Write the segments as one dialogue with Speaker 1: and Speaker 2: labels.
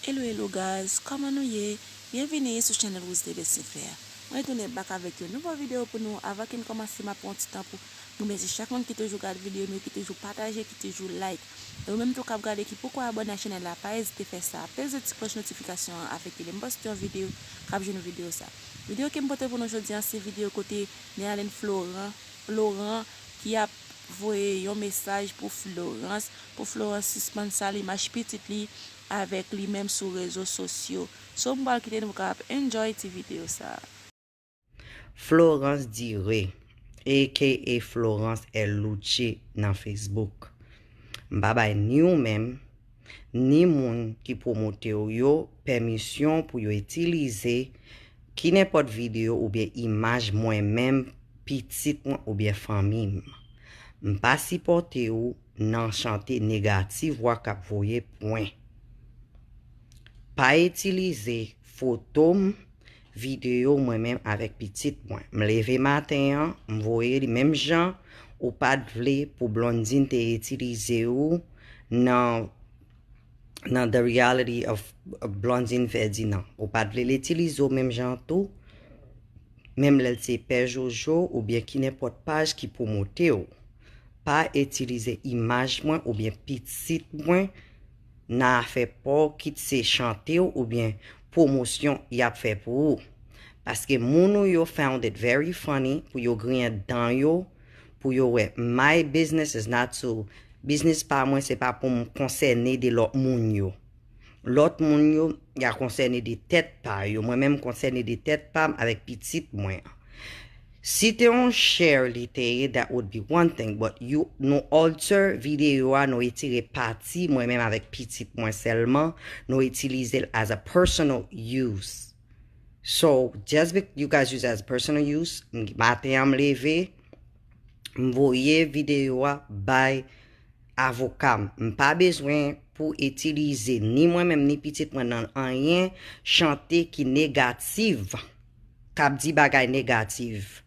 Speaker 1: Hello hello guys kòman nou ye byenvini sou chanèl Rousde Besenfè a mwen retounen bak avèk yon nouvo video pou nou avan ke n kòmanse map pran yon ti tan pou mwen mèsi chak moun ki toujou gad video nou ki toujou pataje ki toujou like e ou menm tou kap gade ki poko abòne ak chanèl la pa ezite fè sa peze ti klòch notifikasyon an afin ke lèm poste yon video kap jwenn ou video sa video kem pote pou nou jodi an se video kote Néalène Florent Laurent ki ap voye yon mesaj pou Florence pou Florence sispann sal imaj pitit li avèk li menm sou rezo sosyo so m pral kite nou ka ap enjoy ti video sa. Florence
Speaker 2: Dire aka Florence L Louche nan Facebook. M pa bay ni ou menm ni moun ki pwomote w yo pèmisyon pou yo itilize kinenpòt videyo oubyen imaj mwen menm, pitit mwen oubyen fanmi m. M pa sipòte ou nan chante negatif vwa k ap voye pwen. Pa itilize foto m Video mwen menm avek pitit mwen m leve maten an m voye li menm jan ou pat vle pou Blondine te itilize ou nan nan the reality of Blondine Ferdinand ou pat vle l itilize ou menm jan tou menm lèl se pè jojo oubyen ki nenpòt paj ki pwomote ou pa itilize imaj mwen oubyen pitit mwen nan afè paw kit se chantew oubyen pwomosyon yap fè pou ou paske moun ou yo found it very funny pou yo griyen dan yo pou yo wè my business is not to biznis pa mwen se pa poum konsène de lòt moun yo lòt moun yo ya konsène de tèt pa yo mwen menm konsène de tèt pam avèk pitit mwen an. Si te yon share li te ye that would be one thing but you nou alter video a nou retire pati mwen menm avèk pitit mwen sèlman nou itilize l as a personal use so just be you guys use as a personal use m maten an m leve m voye video a bay avoka m m pa bezwen pou itilize ni mwen menm ni pitit mwen nan anyen chante ki negative. kap di bagay negativ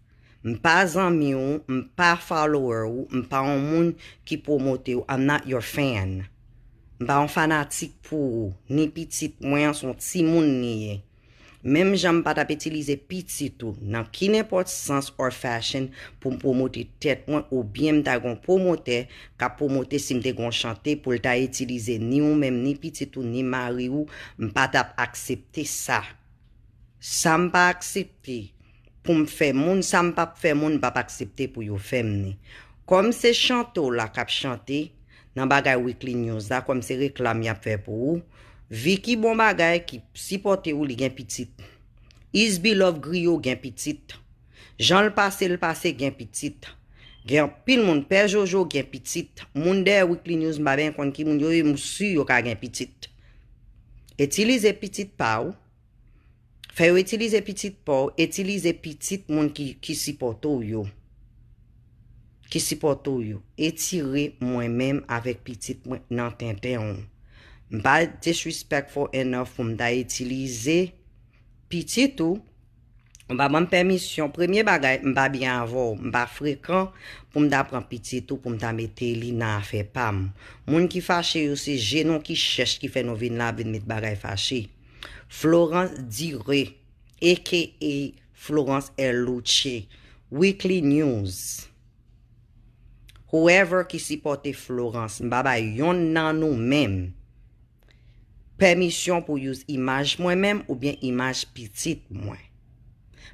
Speaker 2: m pa zanmi w m pa follower w m pa yon moun ki promote w I'm not your fan m pa yon fanatik pou ou ni pitit mwen an son timoun li ye menm jan m pa tap itilize pitit ou nan ki nenpòt sans or fashion pou m promote tèt mwen ou byen m ta gen yon promotè kap promote si m te gen yon chante pou l ta itilize ni ou menm ni pitit ou ni mari ou m pa tap aksepte sa Sam pa aksepte poum fè moun sam pap fè moun mpap aksepte pou yo fèm ni kòm se chante w la kap chante nan bagay weekly news la kòm se reklam yap fè pou ou Vicky bon bagay ki sipòte w li gen pitit Isbilove griyo gen pitit Janl pase l pase gen pitit. Gen anpil moun pè jojo gen pitit. Moun dèyè weekly news m pa byen konn ki moun yo ye m su yo ka gen pitit. Itilize pitit pa w. Fè yo itilize pitit pa w, itilize pitit moun ki sipòte w yo. Ki sipòte w yo. Etire mwen menm avèk pitit mwen nan tenten w. M pa disrespectful enough pou m ta itilize pitit ou Ou pa banm pèmisyon, premye bagay m pa byen avè w, m pa frekan pou m ta pran pitit ou pou m ta mete li nan afè pa m. Moun ki fache yo se je nou ki chèch ki fè nou vin la ap vin met bagay fache. Florence Dire aka Florence Erluce Weekly News Whoever ki sipòte Florence m pa bay yonn nan nou menm Pèmisyon pou use imaj mwen menm oubyen imaj pitit mwen.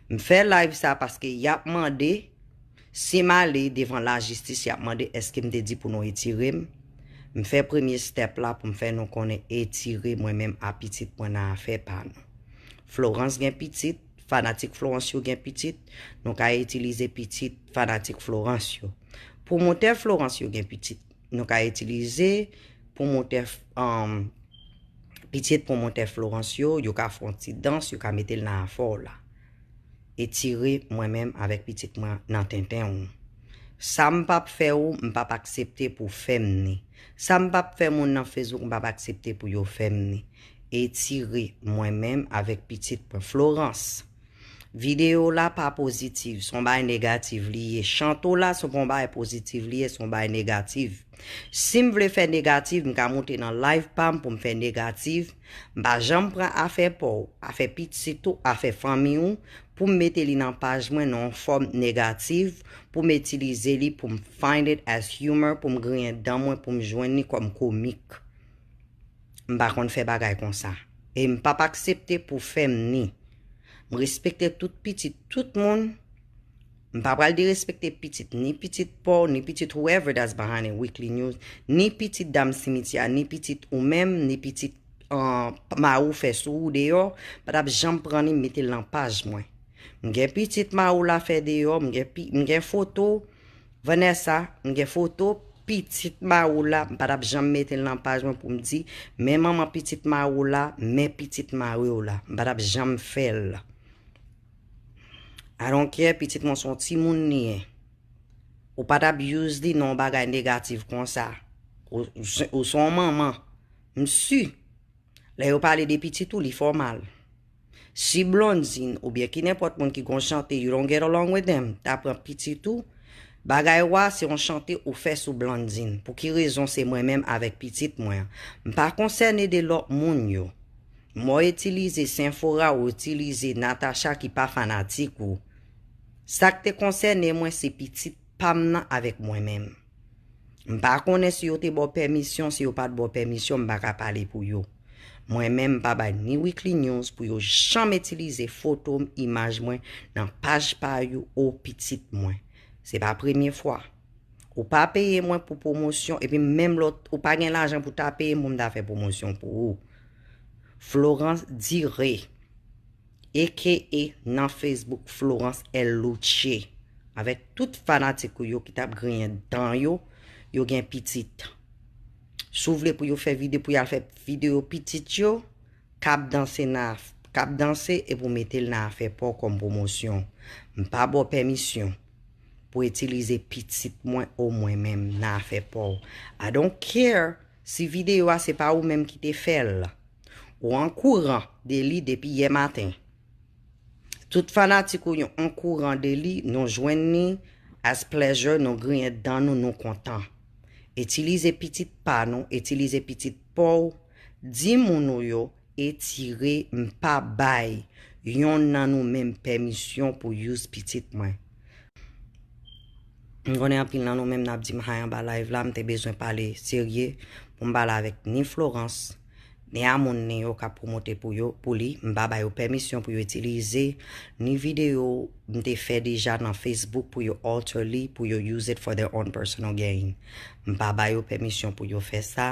Speaker 2: M fè live sa paske yap mande si m ale devan lajistis yap mande eske m te di pou nou etire m. M fè premye step la pou m fè nou konnen etire mwen menm a pitit mwen nan afè pa nou. Florence gen pitit, fanatik Florence yo gen pitit, nou ka itilize pitit fanatik Florence yo. Pwomotè Florence yo gen pitit. nou ka itilize pwomotè pitit pwomotè florans yo yo ka fon ti dans yo ka metel nan afò w la etire mwen menm avèk pitit mwen nan tenten w sa m pap fè ou m pap aksepte pou fèm ni sa m pap fè moun nan facebook m pap aksepte pou yo fèm ni etire mwen menm avèk pitit mwen florans. Video la pa positive son bay negative li ye chanto la se pon bay positive li ye son bay negative sim vle fè negative m ka moute nan live pam poum fè negative m pa janm pran afè paw afè pitit ou afè fanmi ou poum mete li nan paj mwen nan yon fòm negative poum itilize li poum find it as humor poum griyen dan mwen poum jwenn li kòm komik m pa konn fè bagay konsa em pap aksepte pou fèm ni. M respekte tout pitit tout moun. M pa pral derespekte pitit ni pitit pa w, ni pitit whoever that's behind a weekly news, ni pitit dam simityè a, ni pitit ou menm, ni pitit mari w fè sou ou deyò, m pa t ap janm pran li m mete l nan paj mwen. M gen pitit mari w la fè deyò, m gen foto. Vanessa, m gen foto pitit Maroula, m pa tap janm mete l nan paj mwen pou m di, men manman pitit Maroula, men pitit mari w la. M pa tap janm fè l. I don't care, pitit mwen se yon timoun li ye. Ou pa tap use li nan yon bagay negatif konsa. Ou se yon manman. M si. Lè yo pale de pitit ou li fòmal. Si Blondine ou byen ki nenpòt moun ki gon chante you don't get along with them ta pran pitit ou, bagay wa se yon chante ou fè sou Blondine pou ki rezon se mwen menm avèk pitit mwen an. M pa konsène de lòt moun yo. Mò itilize Senfora ou itilize Natacha ki pa fanatik ou. Sak te konsène mwen se pitit pam nan avèk mwen menm. M pa konnen si yo te ba w pèmisyon, si yo pa t ba w pèmisyon, m pa ka pale pou yo. Mwen menm m pa bay ni Weekly News pou yo janm itilize foto m, imaj mwen nan paj pa you ou pitit mwen. Se pa premye fwa. Ou pa peye mwen pou pwomosyon epi menm lè ou pa gen lajan pou ta peye m pou m ta fè pwomosyon pou ou. Florence Dire. aka nan Facebook Florence L Louche avèk tout fanatik ou yo ki tap griyen dan yo, yo gen pitit. Si w vle pou yo fè vide pou yal fè video pitit yo, kap danse nan af, kap danse epi w mete l nan afè pa w kòm pwomosyon. M pa ba w pèmisyon pou itilize pitit mwen ou mwen menm nan afè pa w. I don't care si video a se pa ou menm ki te fè l. Ou an kouran de li depi yè maten. Tout fanatik ou yon an kouran de li, nou jwenn ni as pleasure, nou griyen dan nou, nou kontan. Itilize pitit pa nou, itilize pitit pa w, di moun ou yo etire, m pa bay yon nan nou menm pèmisyon pou use pitit mwen. M konnen anpil nan nou menm nap di m hay anba live la, m te bezwen pale serye pou m pale avèk ni Florence, ni a moun ni yo kap pwomote pou yo, pou li, m pa ba yo pèmisyon pou yo itilize, ni video m te fè deja nan Facebook pou yo alter li, pou yo use it for their own personal gain. M pa ba yo pèmisyon pou yo fè sa.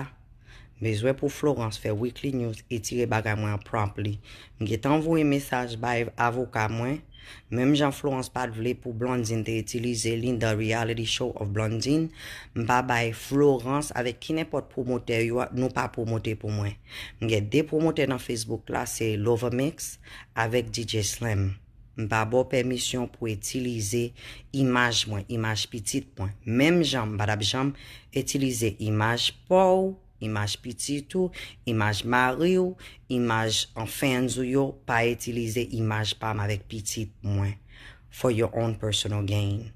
Speaker 2: Bezwen pou Florence fè weekly news etire bagay mwen an promptly. M gentan voye mesaj bay avoka mwen, menm jan Florence pat vle pou Blondine te itilize li the reality show of Blondine, m pa bay Florence avèk ki nenpòt pwomotè yo nou pa pwomote pou mwen. M gen 2 pwomotè nan Facebook la se Lovamix avèk DJ Slim. M pa ba w pèmisyon pou etilize imaj mwen, imaj pitit mwen, menm jan m pa t ap janm etilize imaj pa w, imaj pitit ou, imaj mari w, imaj fans ou yo pa etilize imaj pa m avèk pitit mwen for your own personal gain.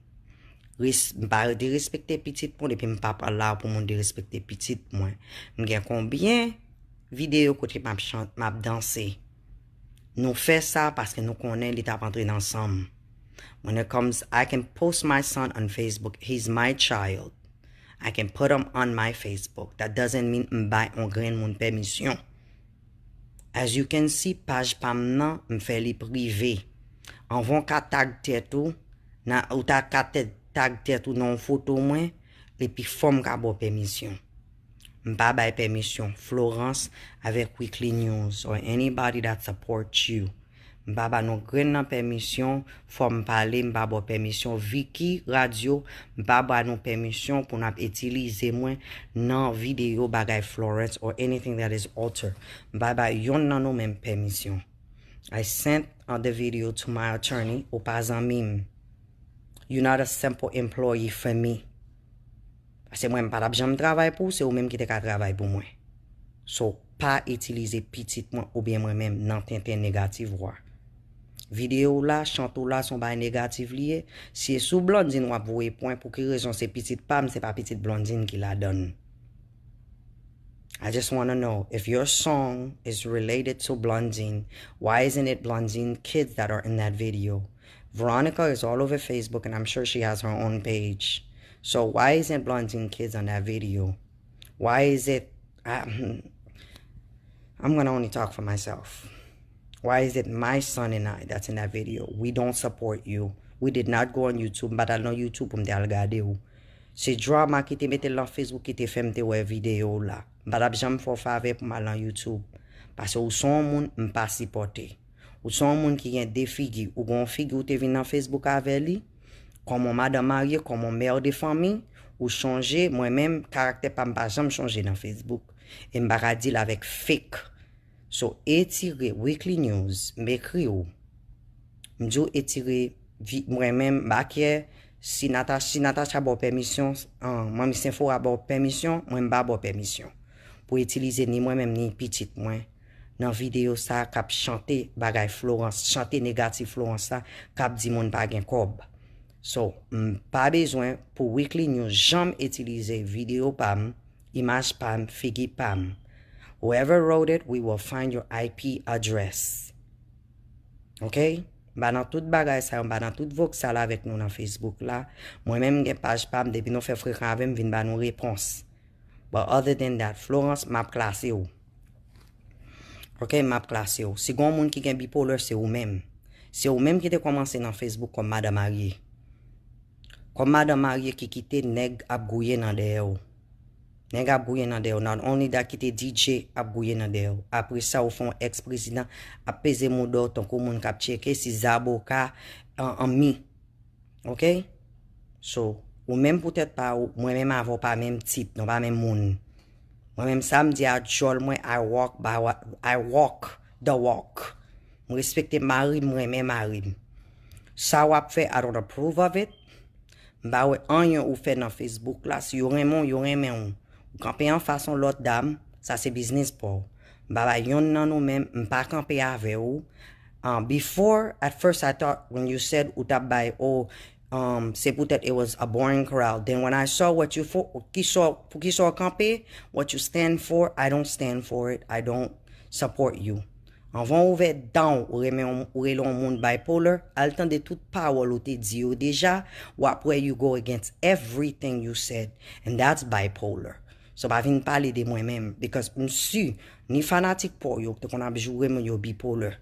Speaker 2: Ris, m pa derespekte pitit moun epi m pa pral la pou moun derespekte pitit mwen. M gen konbyen videyo kote m ap chante, m ap danse? Nou fè sa paske nou konnen li tap antre nan sanm. When it comes I can post my son on Facebook he's my child I can put him on my Facebook that doesn't mean m bay on grenn moun pèmisyon As you can see paj pam nan m fè li prive anvan w ka tag tèt ou nan ou ta ka tag tèt ou nan on foto mwen epi fòm ka baw pèmisyon. M pa bay pèmisyon Florence avèk Weekly News or anybody that support you. M pa ba non grenn nan pèmisyon, fò m pale m pa ba w pèmisyon Vicky Radio m pa ba nou pèmisyon pou n ap itilize mwen nan videyo bagay Florence or anything that is alter. M pa ba yonn nan nou menm pèmisyon. I sent the video to my attorney ou pa zanmi m. You not a simple employee for me. Pase mwen m patap janm travay pou se ou menm ki te ka travay pou mwen so pa itilize pitit mwen oubyen mwen menm nan tenten negative wa video w la chante w la son bagay negative li ye si e sou Blandine wap voye pwen pou ki rezon se pitit pam se pa pitit Blandine ki ladann I just wanna know if your song is related to Blandine why isn't it Blandine kids that are in that video Veronica is all over Facebook and I'm sure she has her own page so why isn't Blondine kids on that video why is it I'm gonna only talk for myself why is it my son and I that's in that video we don't support you we did not go on YouTube m pat al nan YouTube pou m te al gade w se Drama ki te mete l nan Facebook ki te fè m te wè video w la m pa tap janm fè w favè pou m al nan YouTube pase w son w moun m pa sipòte. Ou se yon moun ki gen 2 figi, ou gen yon figi ou te vin nan Facebook avè li, kòm yon madan marye, kòm yon mère de famille, ou chanje, mwen menm, karaktè pam pa janm chanje nan Facebook, em pa ka deal avèk fake. So etire weekly news, m ekri ou, m di w etire vi mwen menm, m pa kè si Natacha, si Natacha ba w pèmisyon, Manmi Senfora ba w pèmisyon, mwen m pa ba w pèmisyon pou etilize ni mwen menm ni pitit mwen. nan video sa kap chante bagay Florence chante negatif Florence la kap di moun pa gen kòb so m pa bezwen pou weekly news janm itilize video pam imaj pam figi pam whoever wrote it we will find your IP address ok m pa nan tout bagay sa yo m pa nan tout voksal avèk nou nan Facebook la mwen menm m gen paj pam depi nou fè frekan avèm vin ba nou repons but other than that Florence map klase w. Ok map klase w. Si gon moun ki gen bipolar se ou menm. Se ou menm ki te komanse nan Facebook kom madan marye. Kom madan marye ki kite neg ap gouye nan dèyè w. Neg ap gouye nan dèyè w. Not only that ki te DJ ap gouye nan dèyè w. Apre sa ou fè yon ex prezidan ap peze mouda w tankou moun kap tcheke si zaboka an mi. Ok. So ou menm pou tet pa ou mwen menm avè w pa menm tip nou pa menm moun. Mwen menm sa m di a djòl mwen I walk by what I walk the walk m respekte marim m renmen marim sa wap fè I don't approve of it m pa wè anyen ou fè nan facebook la si yo renmen w yo renmen w ou kanpe anfas yon lòt dam sa se biznis pa w m pa bay yonn nan nou men m pa kanpe avè w before at first I thought when you said ou tap bay oh Umm se poutèt it was a boring chorale then when I saw what you for poukisa w kanpe what you stand for I don't stand for it I don't support you anvan w ouvè dan w ou renmen ou rele yon moun bipolar al tande tout pawòl ou te di yo deja w ap wè you go against everything you said and that's bipolar so pa vin pale de mwen menm because m su ni fanatik pa w yo ki te konn ap joure moun yo bipolar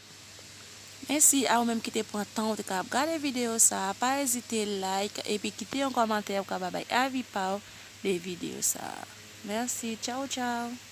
Speaker 2: Mèsi
Speaker 1: a ou menm ki te pran tan ou te ka ap gade videyo sa a, pa ezite like epi kite yon kòmantè pou ka ba bay avi pa ou de videyo sa a. Mèsi, tchawtchaw!